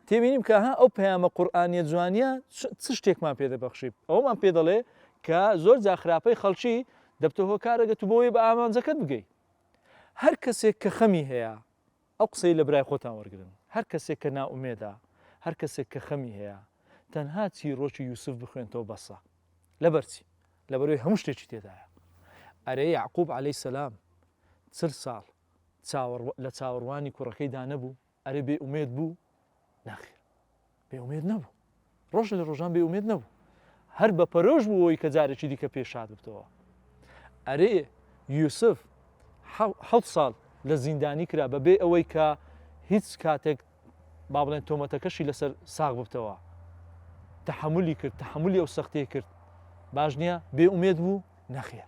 تێبینی بکە ها ئەو پەیامە قورئانیە جوانیە چ شتێکمان پێ دەبەخشی ئەوەمان پێ دەڵێ کە زۆر جا خراپەی خەڵکی دەبتە هۆکارە گەر تو بۆی بە ئامانجەکەت بگەی هەر کەسێک کە خەمی هەیە ئەو قسەی لە برای خۆتان وەرگرن هەر کەسێک کە نائومێدە هەر کەسێک کە خەمی هەیە تەنها چیرۆکی یوسف بخوێنتەوە بەسە لەبەرچی لەبەروی هەموو شتێکی تێدایە ئەرێ یعقوب عەلەی سەسلام چل ساڵ چاوەڕ لە چاوەڕوانی کوڕەکەی دانەبوو ئەرێ بێ ئومێد بوو؟ نەخێر بێ ئومێد نەبوو. ڕۆژ لە ڕۆژان بێ ئومێد نەبوو. هەر بە پەرۆش بوو ئەوەی کە جارێکی دیکە پێ شاد ببتەوە. ئەرێ یوسف حەوت ساڵ لە زیندانی کرا بە بێ ئەوەی کە هیچ کاتێک با بڵێن تۆمەتەکەشی لەسەر ساغ ببتەوە. تەحملی کرد تەحملی ئەو سەختەیە کرد. باش نییە بێ ئومێد بوو نەخێر.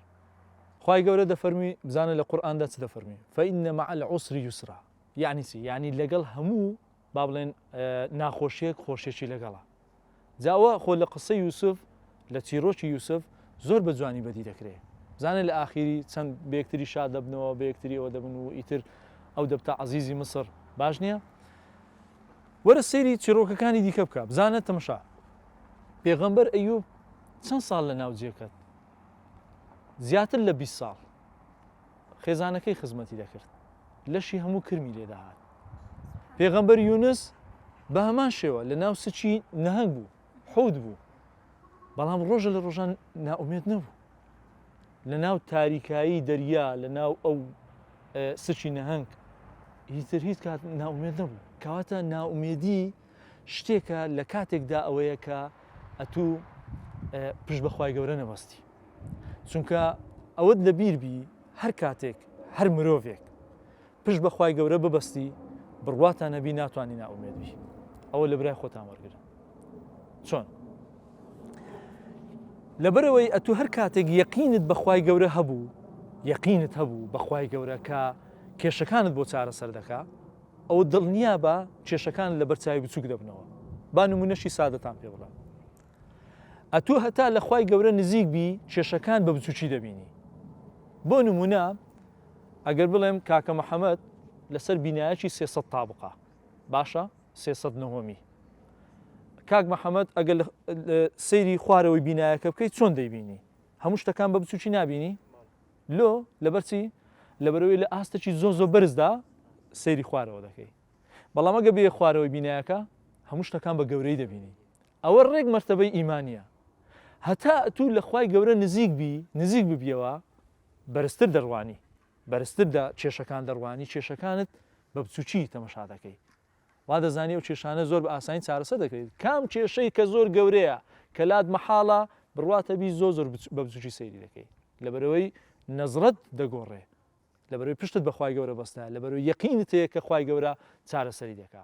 خی گەورە دەفەرمی بزانە لە قورآاندا چ دەفەرمی فەئینە مە العسری یوسرا یەعنی چی یەعنی لەگەڵ هەموو با بڵێن ناخۆشیەک خۆشیەکی لەگەڵە جاوە خۆ لە قسە یوسف لە چیرۆکی یوسف زۆر بە جوانی بەدی دەکرێت زانە لە ئاخیری چەند بێکتری شاد دەبنەوە بێکتریەوە دەبن و ئیتر ئەو دەبتە عزیزی مسر باش نییە وەرە سەیری چیرۆکەکانی دیکە بکە بزانە تەمشا پێغەمبەر ئەیوب چەند ساڵ لە ناو جێکەت زیاتر لە 20 ساڵ خێزانەکەی خزمەتی دەکرد لەشی هەموو کرمی لێدەهات پێغەمبەر یونس بە هەمان شێوە لە ناو سچی نەهنگ بوو حوت بوو بەڵام ڕۆژە لە ڕۆژان ناومێت نەبوو لە ناو تاریکایی دەریا لە ناو ئەو سچی نەهنگ هیتر هیچ کات ناومێت نەبوو کەواتە ناومێدی شتێکە لە کاتێکدا ئەوەیە کە ئەتوو پشت بەخوای گەورە نەبەستی چونکە ئەوەت لە بیر بی هەر کاتێک هەر مرۆڤێک پشت بەخوای گەورە ببەستی بڕواتان نەبی ناتوانانی ناومێت بی ئەوە لە برای خۆتان وەرگرن چۆن لەبەرەوەی ئەتو هەر کاتێک یەقینت بەخوای گەورە هەبوو یەقینت هەبوو بەخوای گەورە کە کێشەکانت بۆ چارەسەر دەکا ئەوە دڵنیا بە کێشەکان لە بەرچوی بچوک دەبنەوە با نمونەشی سادەتان پێ بڵێ ئەتوو هەتا لە خوای گەورە نزیک بی کێشەکان بە بچوکی دەبینی بۆ نمونە ئەگەر بڵێم کاکە محەممەد لەسەر بینایەکی سێسە تابقا باشە سێسە نەهۆمی کاک محەممەد ئەگەر سەیری خوارەوەی بینایەکە بکەیت چۆن دەیبینی هەموو شتەکان بە بچوکی نبینی لۆ لەبەرچی لەبەرەوەی لە ئاستەکی زۆ زۆ بەرزدا سەیری خوارەوە دەکەی بەڵام ئەگە بێ خوارەوەی بینایەکە هەموو شتەکان بە گەورەی دەبینی ئەوە ڕێک مەرتەبەی ئیمانیە. هەتا ئەتوو لە خوای گەورە نزیک بی، نزیک ببیەوە، بەرزتر دەڕوانی، بەرزتر دە کێشەکان دەڕوانی، کێشەکانت بە بچوکی تەمەشا دەکەی. وا دەزانی ئەو کێشانە زۆر بە ئاسانی چارەسەر دەکرێت. کام کێشەی کە زۆر گەورەیە، کە لات مەحاڵە بڕواتە بی زۆر زۆر بە بچوکی سەیری دەکەی. لەبەرئەوەی نەزرەت دەگۆڕێ. لەبەرئەوەی پشتت بە خوای گەورە بەستایە. لەبەرئەوەی یەقینت هەیە کە خوای گەورە چارەسەری دەکا.